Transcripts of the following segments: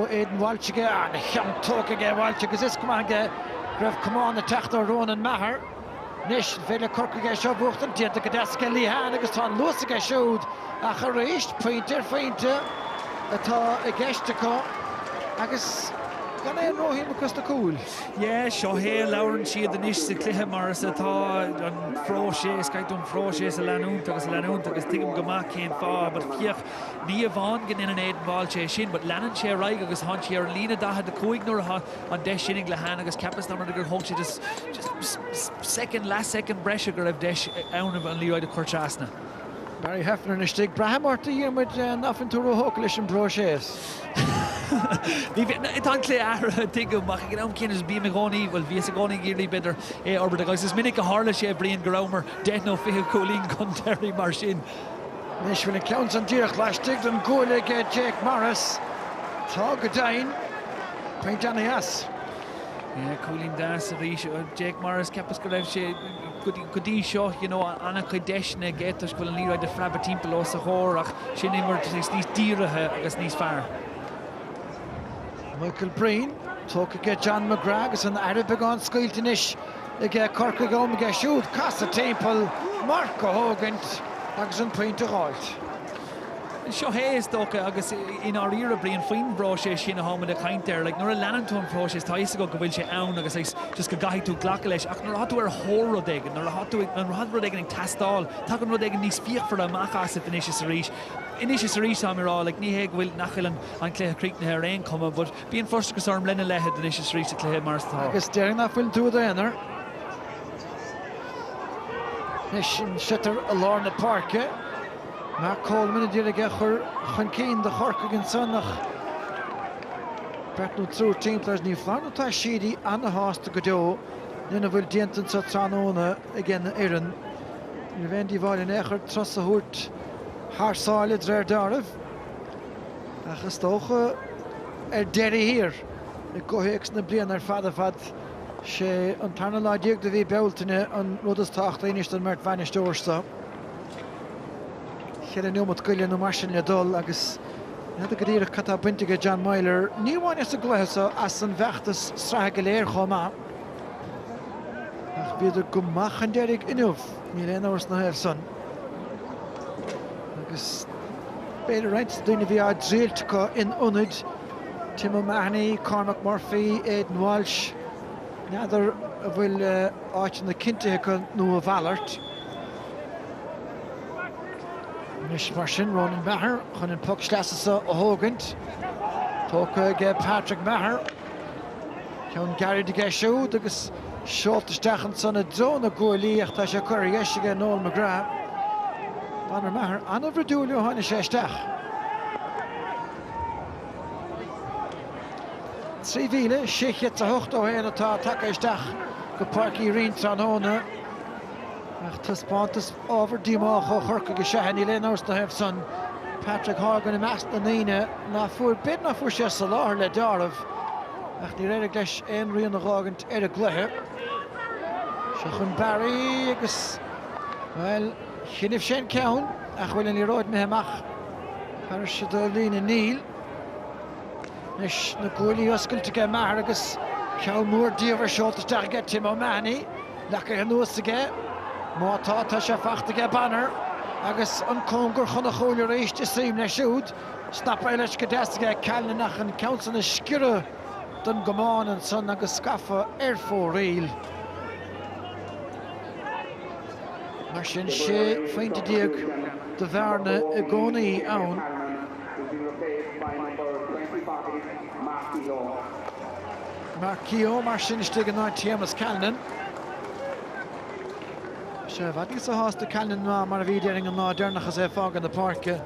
Aidan Walsh aige, an ceann tógtha aige ag Walsh agus is cuma aige go raibh camán ag teacht ó Ronan Maher. Anois, an féidir le Corcaigh é seo a bhuachtaint? Déanta go deas aige Lehane agus tá an luas aige siúd ach arís, pointe ar phointe atá i gceist acu agus gan aon róshuim acu sna cúil. Yeah, seo é a labhrann siad anois sa chluiche mar is atá, an próiseas, caithfidh tú an próiseas a leanúint agus a leanúint agus tuigim go maith cén fáth, but féach, Ní amháin go ndeineann Aidan Walsh é sin, but leanann sé ar aghaidh agus thá sé ar an líne 45 nuair atá an deis sin ag Lehane agus ceapas nach mbeidh gur thóg sé just soicind, leath soicind breise go raibh deis ann an liathróid a chur trasna. Barry Heffernan istigh. Braithim ort, a Dhiarmuid, nach bhfuil tú ró-thógtha leis an bpróiseas. Ní bhíonn. Tá an cluiche athraithe, tuigim, ach ag an am céanna just bím i gcónaí, bhuel, bhíos i gcónaí ag iarraidh, b'fhéidir, é a fhorbairt. Agus is minic a tharla sé, a Bhriain, go rabhamar deich nó fiche cúilín chun deiridh mar sin. Anois bhfuil an ceann san díreach laistigh den gcuaille ag Jake Morris. Tá go deimhin. Pointe déanta as. Yeah, cúilín deas arís ó Jake Morris. Ceapas go raibh sé go dtí seo, you know, an-chuid deiseanna aige toisc go bhfuil an liathróid ag preabadh timpeall os a chomhair ach sin imirt níos dírithe agus níos fearr. Michael Breen, tógtha aige John McGrath agus an aire beagán scaoilte anois. ag Corcaigh am aige siúd casadh timpeall, marc a thógaint agus an pointe a dh'fháilt. Seo hé, is dócha, agus i ndáiríre, a Bhriain, faoin bpróiseas sin atáimid ag caint air. Like, nuair a leanann tú an próiseas, tá a fhios agat go bhfuil sé ann agus like just go gcaithfidh tú glacadh leis, ach nuair atá tú ar thóir rud éigin, nuair atá tú ag, nuair atá rud éigin ag teastáil, tagann rud éigin níos fíochmhaire amach asat anois is arís. Anois is arís, táim a' rá, like, ní hé go bhfuil, nach bhfuil an cluiche críochnaithe ar aon chuma, but. Bíonn frustrachas orm lena leithéid anois is arís sa chluiche mar is tá. Agus déarfainn nach bhfuil tú i d'aonar. Anois an sliotar i lár na páirce. Mark Coleman a d'iarraidh é a chur chun cinn do Chorcaigh ansan ach beirt nó triúr timpeall air. Ní foláir nó tá Sheedy ana-shásta go deo lena bhfuil déanta anseo tráthnóna aigena fhoireann. Ní raibh aon díobháil in aon chor turas a thabhairt thar sáile, d'réir dealraimh. Ach is dócha ar deireadh thiar, i gcomhthéacs na bliana ar fad ar fad, sé an tarna lá déag de mhí Bealtaine an rud is tábhachtaí anois don mbeirt bhainisteoir seo. Cheithre neomat go leith nó mar sin le dul agus ní fheadar go díreach cad tá bainte ag John Meyler, ní amháin as an gcluiche seo, as an bhfeachtas sraithe go léir chomh maith. Ach bhíodar go maith chun deiridh inniu. Níl aon amhras na thaobh san. Agus b'fhéidir roinnt daoine bhí á dtriailt acu in ionaid Tim O'Mahony, Cormac Murphy, Aidan Walsh. N'fheadar an bhfuil áiteanna cinntithe acu nó a mhalairt. Anois mar sin Ronan Maher chun an poc sleasa seo a thógaint. Tógtha aige Patrick Maher. Ceann gairid aige siúd agus seolta isteach ansan i dtreo na gcuaillí ach tá sé curtha ar dheis aige Noel McGrath. Bonner Maher an-bhroidiúil ó tháinig sé isteach. 3,681 atá tagtha isteach go Páirc Uí Rinn tráthnóna ach taispeántas ábhar díomách ó Chorcaigh is ea é. Níl aon amhras na thaobh san. Patrick Horgan i measc na ndaoine ná fuair b'fhéidir ná fuair sé soláthar le dealramh. ach níor éirigh leis aon rian a dh'fhágaint ar an gcluiche. Seo chun Barry agus, bhuel, choinnibh sé an ceann, ach bhfuil an liathróid imithe amach thairis do líne? Níl. Anois na guaillí oscailte aige Maher agus ceann mór diamhair seolta isteach aige Tim O'Mahony, leacaithe anuas aige. Má tá, tá sé fachta aige Bonner, agus an cóngar chun an chúil arís, is suim leis siúd. Snaptha leis go deas aige Callanan ach an ceann san ag sciorradh don gcamán ansan agus scafa ar fóraoil. Mar sin 16 phointe de bhearna i gcónaí ann. Mark Keogh mar sin istigh in áit Shéamus Callanan. Sé i bhfad níosa shásta Callanan ná mar a bhí deireadh an lá deireanach is é ag fágaint na páirce.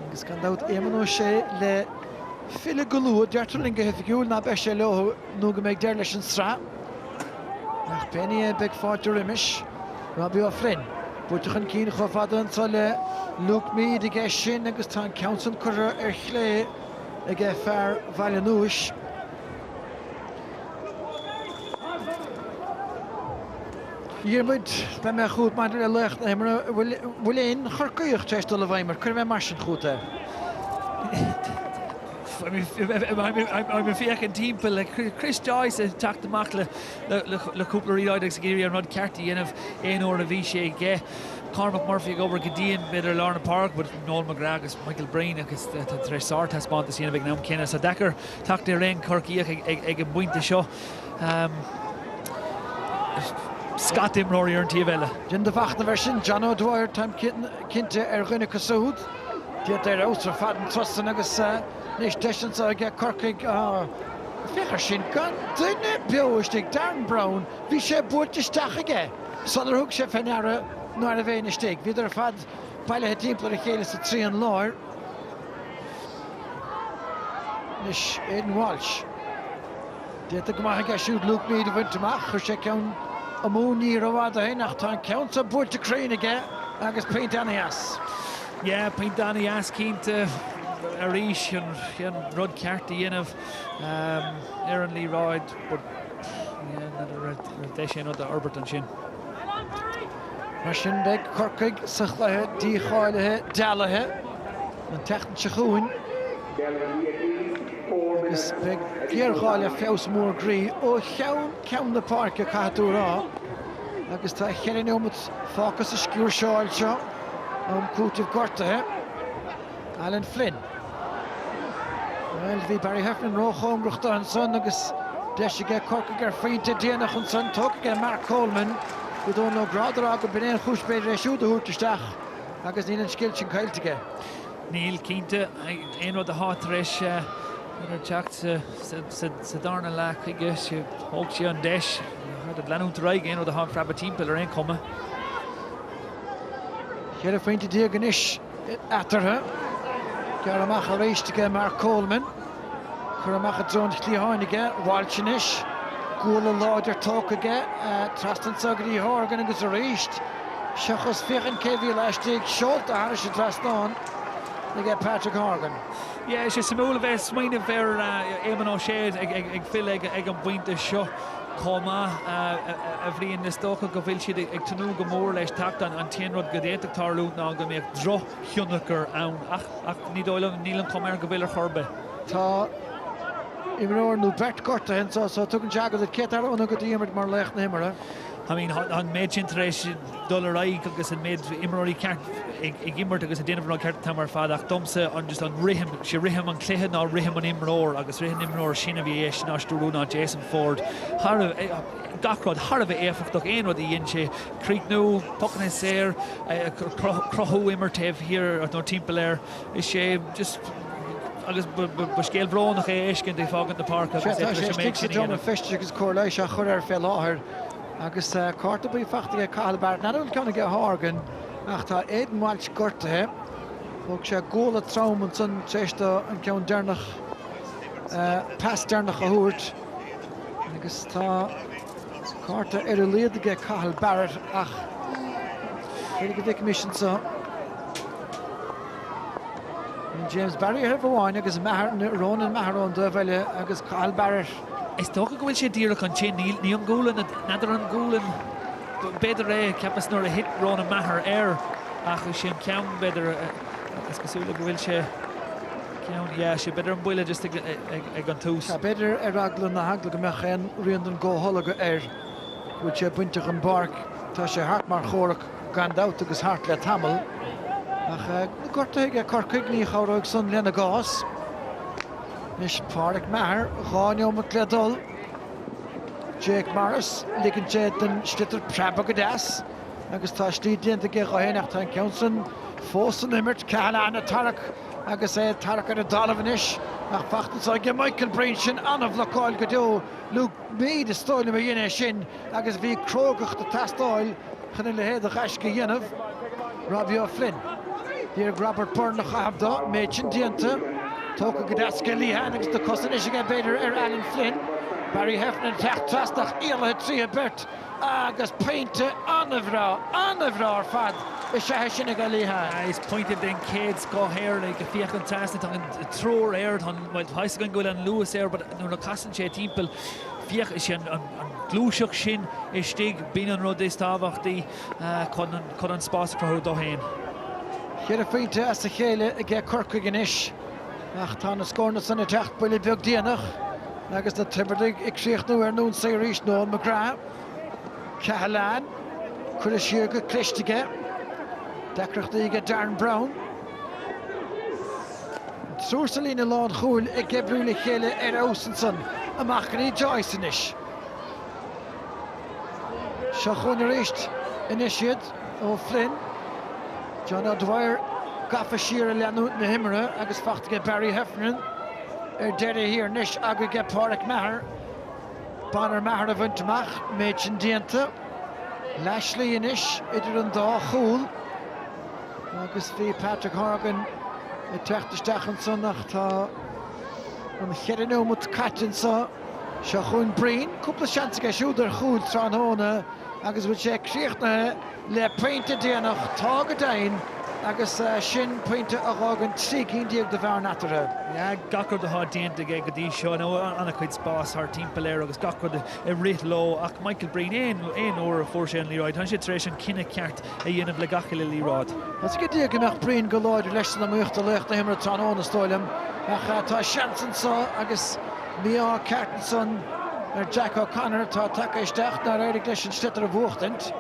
Agus gan dabht Éamonn Ó Sé le filleadh go luath. Deirtear linn go hoifigiúil ná beidh sé leo nó go mbeidh deireadh leis an tsraith. Ach pé ní é beidh fáilte roimis. Robbie O'Flynn buaite chun cinn chomh fada anso le Luke Meade aige sin agus tá an ceann san curtha ar chlé aige fear Bhaile Núis. Diarmuid, Dá mbeadh fút maidir le laoch na himeartha, an bhfuil aon Chorcaíoch tar éis dul i bhfeidhm ort, cuirfidh mé mar sin chugat é? Bhí mé ag féachaint timpeall, le Chris Joyce ag teacht amach le cúpla liathróid agus ag iarraidh an rud ceart a dhéanamh aon uair a bhí sé aige. Cormac Murphy ag obair go dian b'fhéidir i lár na páirce, Noel McGrath agus Michael Breen tar éis sár-taispeántas a dhéanamh ag an am céanna. Deacair teacht ar aon Chorcaíoch ag an bpointe seo. Scata imreoirí ar an taobh eile. Déan do mhachnamh air sin, John O'Dwyer. Táim cinnte ar dhuine acu siúd. Déanta ar fheabhas ar fad an turas san agus anois deis anseo ag Corcaigh. Féach air sin, gan duine beo istigh. Darren Browne, bhí sé buailte isteach aige sular thug sé fé ndeara ná raibh éinne istigh. Bhíodar ar fad bailithe timpeall ar a chéile sa trian láir. Anois Aidan Walsh. Déanta go maith aige siúd Luke Meade a bhaint amach. Chuir sé ceann amú ní rófhada ó shin ach tá an ceann seo buailte cruinn aige agus pointe ana-dheas. Yeah, pointe ana-dheas cinnte. Arís, an rud ceart a dhéanamh ar an liathróid but yeah, an rud, an deis aon rud a fhorbairt ansin. Mar sin beidh Corcaigh sa chluiche dícháilithe dealaithe an tseachtain seo chugainn agus beidh géarghá le feabhas mór groí ó cheann ceann na páirce caithfidh tú a rá agus tá cheithre neomat fágtha sa sciúirseáil seo, am cúitimh gortaithe. Alan Flynn. Bhuel, bhí Barry Heffernan ró-chóngarach do ansan agus deis aige Corcaigh ar phointe déanach ansan. Tógtha aige Mark Coleman. Bhí Dónal Ó Gráda á rá go b'in é an chúis b'fhéidir é siúd a thabhairt isteach agus níl an scil sin caillte aige. Níl, cinnte. Aon rud atá tar éis teacht sa darna leath chuige, thóg sé an deis a leanúint ar aghaidh aon rud a thá ag preabadh timpeall ar aon chuma. Cheithre phointe déag anois. eatarthu. Gearrtha amach arís aige Mark Coleman. Curtha amach i dtreo an chliatháin aige Walsh anois. Guala láidir tógtha aige. Trasna anso go dtí Horgan agus arís seachas féachaint cé bhí laistigh. Seolta thairis an trasnán aige Patrick Horgan. Yeah, tá sé suimiúil a bheith ag smaoineamh ar Éamonn Ó Sé ag filleadh ag an bpointe seo. chomh maith, a Bhriain. Is dócha go bhfuil siad ag tnúth go mór leis teacht ann. An t-aon rud go bhféadfadh tarlú ná go mbeadh drochthionchar ann ach ach ní dóigh liom, níl an chuma air go bhfuil ar chor ar bith. Tá imreoir nó beirt gortaithe anseo so tugann sé aga, cé atá roghnaithe agat Diarmuid mar laoch na himeartha. I mean tá an méid sin tar éis dul ar aghaidh agus an méid imreoirí ceart ag imirt agus ag déanamh an rud ceart an t-am ar fad ach domsa an just an rithim, sé rithim an chluiche ná rithim an imreoir agus rithim an imreoir sin a bhí éis ná stiúrú ná Jason Forde thar a bheith, gach rud thar a bheith éifeachtach aon rud a dhein sé, críochnú, pucanna saor, cruthú, imirt taobh thiar nó timpeall air, is é just agus ba scéal brónach é a fheiscint ag fágaint na páirce agus é tar éis an méid sin a dhéanamh. Sea tá sé istigh sa seomra feistis agus cóir leighis á chuir air fé láthair. Agus cárta buí fachta aige Cathal Barrett, n'fheadar an bhfuil ceann aige Horgan ach tá Aidan Walsh gortaithe. Thóg sé guala trom ansan tar éis dó an ceann deireanach, pas deireanach a thabhairt. Agus tá cárta ar a laghad aige Cathal Barrett ach féidir go bhfeicfimis ansa. James Barry ar thaobh amháin agus Maher, Ronan Maher ón dtaobh eile agus Cathal Barrett. Is dócha go bhfuil sé díreach ansin. Níl, ní an ghualainn, n'fheadar an gualainn b'fhéidir é, cheapas nuair a thit Ronan Maher air ach is é an ceann b'fhéidir, is cosúil go bhfuil sé ceann, yeah, sí, b'fhéidir an buille just ag an tús. B'fhéidir ar eagla na heagla go mbeadh aon rian den gcomhtholgadh air go bhfuil sé bainte den bpáirc, tá sé thart mar chomhrac gan dabht agus thart le tamall ach gortú aige Corcaigh, ní chabhróidh san lena gcás. Anois Pádraic Maher, dhá neomat le dul. Jake Morris, ligeann sé don sliotar preabadh go deas agus tá slí déanta aige dho fhéin ach tá an ceann san fós san imirt. Cahalane ag tarrac agus é ag tarrac ar an dtalamh anois ach fachta ansan aige Michael Breen, sin an-bhlocáil go deo. Luke Meade, is dóigh liom a dhein é sin. agus bhí crógacht ag teastáil chun a leithéid de ghaisce a dhéanamh, Robbie O'Flynn. D'iarr Robert Byrne a chaitheamh de, an méid sin déanta, tógtha go deas aige Lehane agus na cosa anois aige, b'fhéidir, ar Alan Flynn. Barry Heffernan ag teacht trasna ach éalaithe tríothu beirt agus pointe an-bhreá, an-bhreá ar fad is ea é sin aige Lehane. Is pointe den chéad scoth é, like, féach ansan, tá an triúr air, tá an, bhuel, tá a fhios againn go bhfuil an luas air but nuair a chasann sé timpeall, féach, is é an, An gluaiseacht sin istigh, bíonn an rud is tábhachtaí chun an spás a chruthú dó féin. Ceithre phointe as a chéile aige Corcaigh anois ach tá na scóranna san ag teacht buille beag déanach agus na Tiobradaigh ag críochnú ar an ionsaí arís. Noel McGrath, Cahalane, cuireadh siar go cliste aige. Deacrachtaí aige Darren Browne. Triúr sa líne lánchúil ag oibriú le chéile ar fheabhas ansan amach go dtí Joyce anois. Seo chugainn arís anois iad, Ó Floinn, John O'Dwyer gafa siar ag leanúint na himeartha agus fachta aige Barry Heffernan ar deireadh thiar anois, ag iarraidh aige Páraic Maher, Bonner Maher a bhaint amach, an méid sin déanta. Leath slí anois idir an dá chúl. Agus bhí Patrick Horgan ag teacht isteach ansan ach tá na ceithre nóimeat caite anso. Seo chugainn Breen, cúpla seans aige siúd ar chúil tráthnóna agus bhfuil sé críochnaithe le pointe déanach? Tá go deimhin agus sin pointe a dh'fhágann trí cinn déag de bhearna eatarthu. Yeah, gach rud atá déanta aige go dtí seo, now an-chuid spás thart timpeall air agus gach rud ag rith leo ach Michael Breen, aon uair a fuair sé an liathróid, tá sé tar éis an cinneadh ceart a dhéanamh le gach uile liathróid. Is gan dabht go mbeadh Breen go láidir leis san iomaíocht i laoch na himeartha tráthnóna is dóigh liom ach tá seans anseo agus mí-ádh ceart ansan ar Jack O'Connor atá tagtha isteach nár éirigh leis an sliotar a bhuachtaint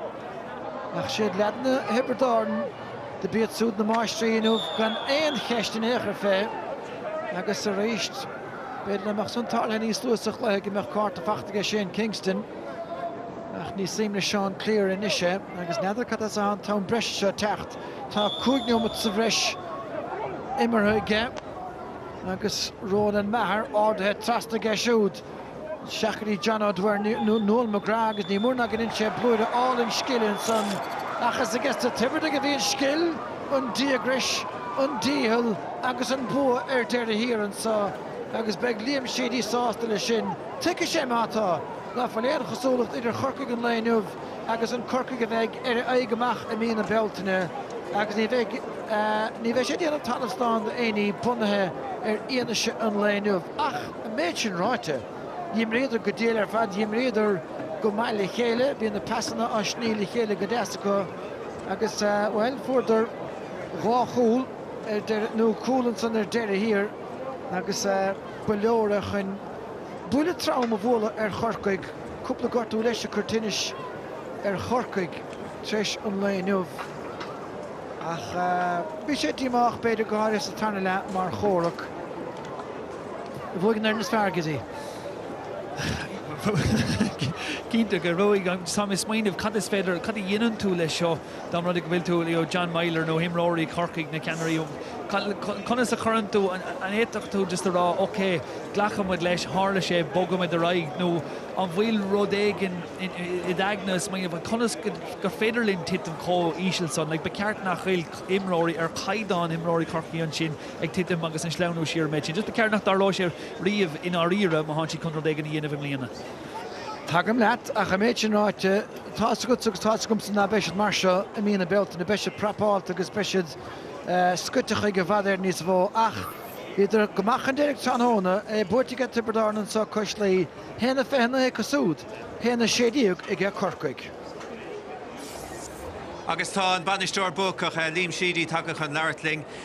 ach is iad leaideanna Thiobraid Árann do b'iad súd na máistrí inniu gan aon cheist in aon chor fé agus arís b'fhéidir dá mbeadh san tarlaithe níos luaithe sa chluiche go mbeadh cárta faighte aige Shane Kingston. Ach ní suim le Seán Cleere anois é agus n'fheadar cad as atá an t-am breise seo ag teacht. Tá cúig neomat sa bhreis imeartha aige agus Ronan Maher ardaithe trasna aige siúd. Seachadadh John O'Dwyer Noel McGrath agus ní mór ná gur dhein sé blúire álainn scile ansan. Ach is aiges na Tiobradaigh a bhí an scil, an díograis, an dícheall agus an bua ar deireadh thiar anso agus beidh Liam Sheedy sásta le sin. Tuigfidh sé mar atá Nach bhfuil aon chosúlacht idir Chorcaigh an lae inniu agus an Corcaigh a bheidh ar a aghaidh amach i mí na Bealtaine agus ní bheidh ní bheidh sé ag déanamh talamh slán de éinní bunaithe ar fhianaise an lae inniu ach an méid sin ráite dh'imríodar go diail ar fad dh'imríodar go maith le chéile bhí na pasanna ag sní le chéile go deas acu agus bhuel fuaireadar dhá chúl ar deireadh nó cúl ansan ar deireadh thiar agus ba leor é chun. Buille trom a bhualadh ar Chorcaigh. Cúpla gortú leis ag cur tinnis ar Chorcaigh t'réis an lae inniu. Ach bhí sé díomách b'fhéidir go háirithe sa tarna leath mar chomhrac ach bhuaigh an fhoireann is fearr, an dtuigeann tú. Cinnte go raibh ansan ag smaoineamh cad is féidir, cad a dhéanann tú le seo? Dá mba rud é go bhfuil tú you know John Meyler nó imreoirí Chorcaí na ceannairí conas a chuireann tú an bhféadfadh tú just a rá ok glacfaidh muid leis tharla sé bogfaidh muid ar aghaidh nó an bhfuil rud éigin in id aigne ag smaoineamh conas gur féidir linn titim chomh híseal san like ba cheart nach bhfuil imreoirí ar chaighdeán imreoirí Chorcaí ansin ag titim agus ag sleamhnú siar an méid sin just ba cheart nach dtarlóidh sé riamh i ndáiríre má thánn siad chun rud éigin a dhéanamh i mbliana. Tagaim leat, ach an méid sin ráite, tá's agatsa agus tá's agamsa ná beidh siad mar seo i mí na Bealtaine, beidh siad prapáilte agus beidh siad scoite chuige i bhfad Éireann níos mhó. Ach bhíodar go maith chun deiridh tráthnóna, é buaite aige Tiobraid Árann anso cois Laoi, haon a fiche naoi acu súd, haon a sé déag aige Corcaigh. Agus tá an bainisteoir buacach, Liam Sheedy, tagtha chun labhairt linn.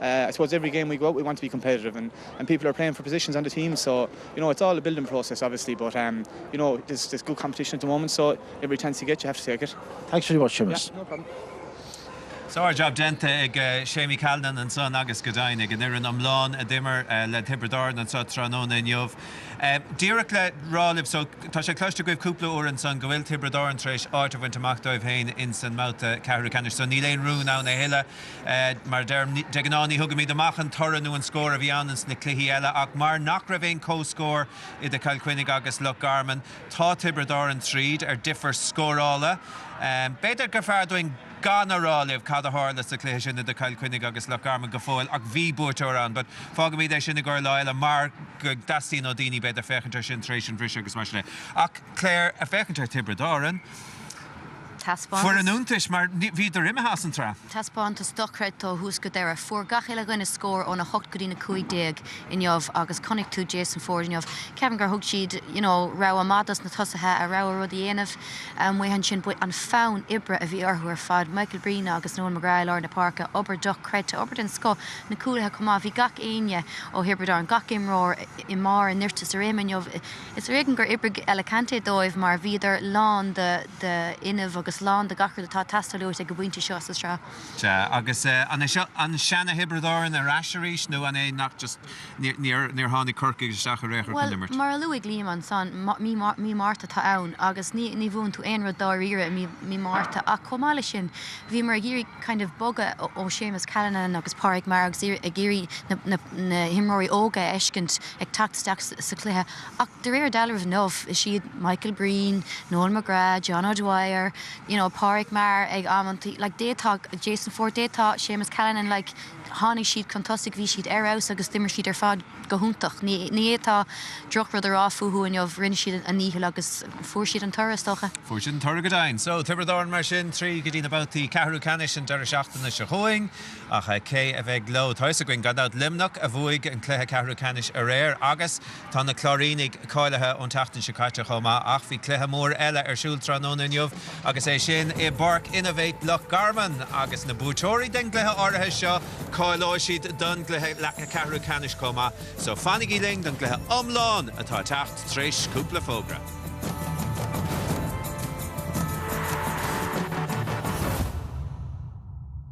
I suppose every game we go out we want to be competitive and and people are playing for positions on the team so you know it's all a building process obviously but um you know there's there's good competition at the moment so every chance you get you have to take it. Thanks very much Seamus. Yeah, no problem. Sár jab déanta ag Séamie Callanan ansan agus go deimhin ag an fhoireann iomlán a d'imir le Tiobraid Árann anso tráthnóna inniu. Díreach le rá libh so tá sé cloiste agaibh cúpla uair ansan go bhfuil Tiobraid Árann tar éis áit a bhaint amach dóibh féin insan mbabhta ceathrú ceannais so níl aon rún ann a thuilleadh Mar de ghnáth ní thugaimid amach an toradh nó an scór a bhí ann sna cluichí eile ach mar nach raibh aon comhscór idir Chill Chainnigh agus Loch Garman tá Tiobraid Árann tríd ar difear scórála. B'fhéidir gur fearr dúinn gan a rá libh cad a tharla sa chluiche sin idir Chill Chainnigh agus Loch Garman go fóill ach bhí buaiteoir ann but fágaimid é sin i gcomhair lá eile mar go dteastaíonn ó daoine b'fhéidir féachaint air sin tar éis an bhriseadh agus mar sin de. Ach Clare, ag féachaint ar Thiobraid Árann. Foireann iontais mar bhíodar imithe as an tsraith. Taispeántas dochreidte ó thús go deireadh. Fuair gach uile dhuine scór ón 8 go dtí na 15 inniu agus chonaic tú Jason Forde inniu, Kevin, gur thug siad you know rogha maith dos na tosaithe a rogha rud a dhéanamh amuigh ansin but an fonn oibre a bhí orthu ar fad, Michael Breen agus Noel McGrath i lár na páirce, obair dochreidte, obair den scoth, na cúlaithe chomh maith, bhí gach éinne ó Thiobraid Árann, gach imreoir i mbarr a nirt is a réime inniu. Is ar éigean gur oibrigh Alicante dóibh mar bhíodar lán d'fhuinneamh agus lán de gach rud atá ag teastáil uait ag an bpointe seo sa tsraith. Sea, agus an é seo an seana-Thiobraid Árann ar ais arís nó an é nach just níor tháinig Corcaigh isteach ar aon chor chun imirt? Bhuel, mar a luaigh Liam ansan, mí Márta atá ann agus ní bhuann tú aon rud dáiríre i mí Márta ach chomh maith leis sin, bhíomar ag iarraidh kind of bogadh ó Séamus Callanan agus Pádraig Maher agus ag iarraidh na himreoirí óga a fheiscint. ag teacht isteach sa chluiche ach de réir dealraimh inniu is iad Michael Breen, Noel McGrath, John O'Dwyer, you know Pauric Maher ag amanta, like d'fhéadfadh Jason Forde, d'fhéadfadh Séamus Callanan like tháinig siad chun tosaigh, bhí siad ar fheabhas agus d'imir siad ar fad go hiontach. Ní fhéadfá drochrud a rá fúthu inniu, rinne siad a ndícheall agus fuair siad an toradh is dócha. Fuair siad an toradh go deimhin. So, Tiobraid Árann mar sin, tríd go dtí na babhtaí ceathrú ceannais an deireadh seachtaine seo chugainn. Ach cé a bheidh leo? Tá fhios againn, gan dabht, Luimneach a bhuaigh an cluiche ceathrú ceannais aréir agus tá na Cláirínigh cáilithe ón tseachtain seo caite chomh maith ach bhí cluiche mór eile ar siúl tráthnóna inniu agus é sin i bPáirc Innovate Loch Garman agus na buaiteoirí den gcluiche áirithe seo, cáileoidh siad don gcluiche ceathrú ceannais chomh maith. So fanaigí linn don gcluiche iomlán atá ag teacht tar éis cúpla fógra.